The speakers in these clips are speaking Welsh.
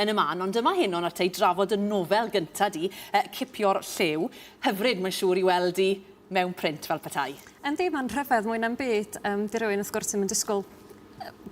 yn y man, ond dyma Henon ata i drafod dy nofel gynta di, yy Cipio'r Llew. Hyfryd, mae'n siŵr, i weld di mewn print fel petai. Yndi, mae'n rhyfedd mwy na'm byd. Yym, di rywun, wrth gwrs, ddim yn disgwyl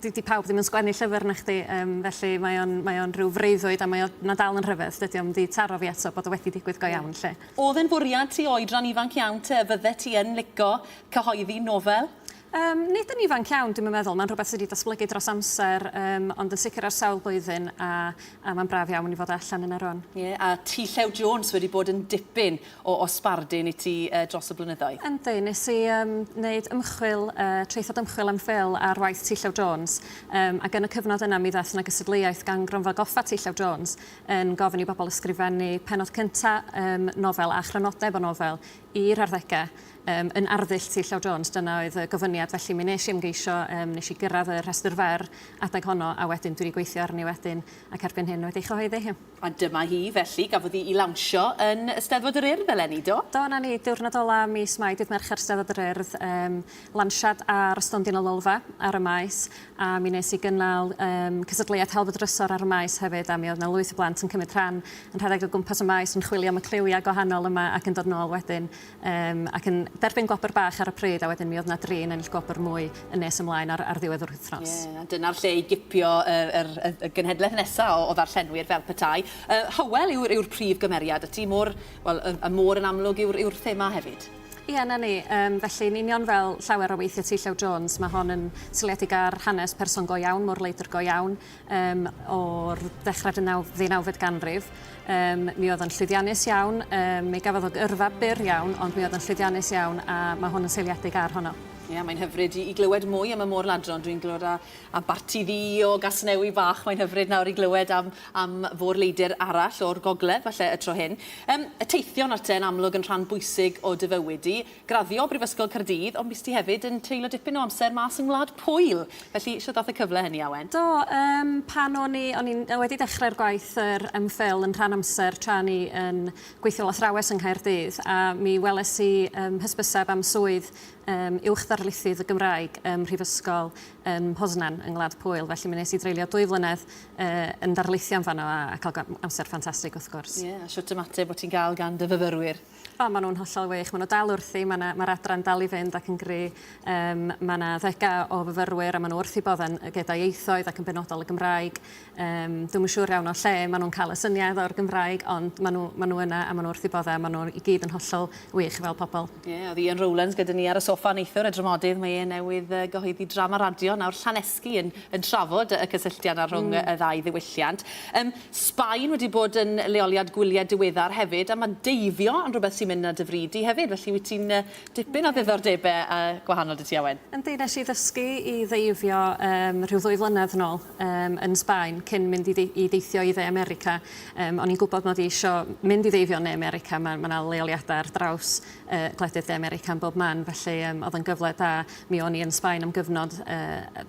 di, di pawb ddim yn sgwennu llyfr na chdi, um, felly mae o'n, mae on rhyw freuddwyd a mae o'n na dal yn rhyfedd. Dydy o'm di taro fi eto bod o wedi digwydd go iawn, lle. Oedd e'n fwriad ti oedran ifanc iawn te, fydde ti yn lico cyhoeddi nofel? Yym, nid yn ifanc iawn, dwi'm yn meddwl. Mae'n rhywbeth sy' 'di datblygu dros amser, yym, ond yn sicr ar sawl blwyddyn, a a mae'n braf iawn i fod allan yna rŵan. Ie, a ti Llew Jones wedi bod yn dipyn o o sbardun i ti yy dros y blynyddoedd? Yndi, nes i yym neud ymchwil yy traethawd ymchwil am Phil ar waith ti Llew Jones, yym ac yn y cyfnod yna mi ddaeth 'na gystadleuaeth gan Gronfa Goffa ti Llew Jones yn gofyn i bobl ysgrifennu pennod cynta' yym nofel a chrynodeb o nofel i'r arddege. Yym, yn arddull Tŷ Llew Jones, dyna oedd y gofyniad, felly mi nes i ymgeisio, yym, nes i gyrraedd y rhestr fer adeg honno, a wedyn dwi wedi gweithio arni wedyn, ac erbyn hyn wedi ei chyhoeddi hi. A dyma hi, felly, gafodd hi'i lawnsio yn y Steddfod yr Urdd eleni, do? Do, 'na ni, diwrnod ola' mis Mai, dydd Mercher, Steddfod yr Urdd, yym, lansiad ar y stondin y Lolfa ar y Maes, a mi nes i gynnal, yym, cystadleuaeth Helfa Drysor ar y Maes hefyd, a mi oedd 'na lwyth o blant yn cymryd rhan, yn rhedeg o gwmpas y Maes yn chwilio am y cliwia' gwahanol yma ac yn dod nôl wedyn Yym, ac yn derbyn gwobr bach ar y pryd, a wedyn mi oedd 'na dri yn ennill gwobr mwy yn nes ymlaen ar ar ddiwedd yr wythnos. Ie, a dyna'r lle i gipio y yr y y genhedlaeth nesa' o o ddarllenwyr fel petai. Yy Hywel yw'r yw'r prif gymeriad, y tŷ môr, wel y y môr yn amlwg yw'r yw'r thema hefyd. Ie, 'na ni. Yym, felly, yn union fel llawer o weithie T Llew Jones, ma' hon yn seiliedig ar hanes person go iawn, môr-leidr go iawn, um, o'r dechrau ddeunawfed ganrif. Um, mi oedd yn llwyddiannus iawn, um, mi gafodd o gyrfa byr iawn, ond mi oedd yn llwyddiannus iawn a mae hwn yn seiliedig ar honno. Ie, yeah, mae'n hyfryd i, i glywed mwy am y môr ladron. Dwi'n glywed a, a barti ddi o gasnewi bach. Mae'n hyfryd nawr i glywed am, am fôr leidr arall o'r gogledd, falle y tro hyn. Um, y teithion at e yn amlwg yn rhan bwysig o dyfywyd i. graddio o Brifysgol Caerdydd ond bues ti hefyd yn treulio dipyn o amser mas yng Ngwlad Pwyl, felly shwt ddath y cyfle hynny Awen? Do, yym pan o'n i, o'n i'n wedi dechrau'r gwaith yr MPhil yn rhan amser tra o'n i yn gweithio fel athrawes yng Nghaerdydd a mi weles i yym hysbyseb am swydd yym Uwch Ddarlithydd y Gymraeg ym Mhrifysgol ym Mhoznan yng Ngwlad Pwyl felly mi nes i dreulio dwy flynedd yy yn darlithio yn fanno a a ca'l go- amser ffantastig wrth gwrs. Ie, a shwt ymateb o' ti'n ga'l gan dy fyfyrwyr? O, maen nhw'n hollol wych. Maen nhw dal wrthi, mae'r ma adran dal i fynd ac yn gry. Um, mae yna ddega o fyfyrwyr a maen nhw wrthi bodden gyda ieithoedd ac yn benodol y Gymraeg. Um, Dwi'n yn siŵr iawn o lle maen nhw'n cael y syniad o'r Gymraeg, ond maen nhw, maen nhw yna a maen nhw wrthi bodda. Maen nhw i gyd yn hollol wych fel pobl. Ie, yeah, oedd Ian Rowlands gyda ni ar y sofa neithwr y dramodydd. Mae e newydd uh, gyhoeddi drama radio nawr Llanesgi yn, yn trafod y cysylltiad ar rhwng mm. y ddau ddiwylliant. Um, Sbaen wedi bod yn leoliad gwyliau diweddar hefyd, a mae deifio yn rhywbeth sy'n mynd 'na dy fri di hefyd, felly wyt ti'n dipyn o ddiddordebau gwahanol 'da ti Owen? Yndi, nes i ddysgu i ddeifio yym rhyw ddwy flynedd nôl yym yn Sbaen cyn mynd i i deithio i Dde America. Yym o'n i'n gwybod mod i isio mynd i ddeifio yn Ne America, ma' ma' 'na leoliadau ar draws yy gwledydd De America yn bob man, felly yym oedd o'n gyfle da. Mi o'n i yn Sbaen am gyfnod yy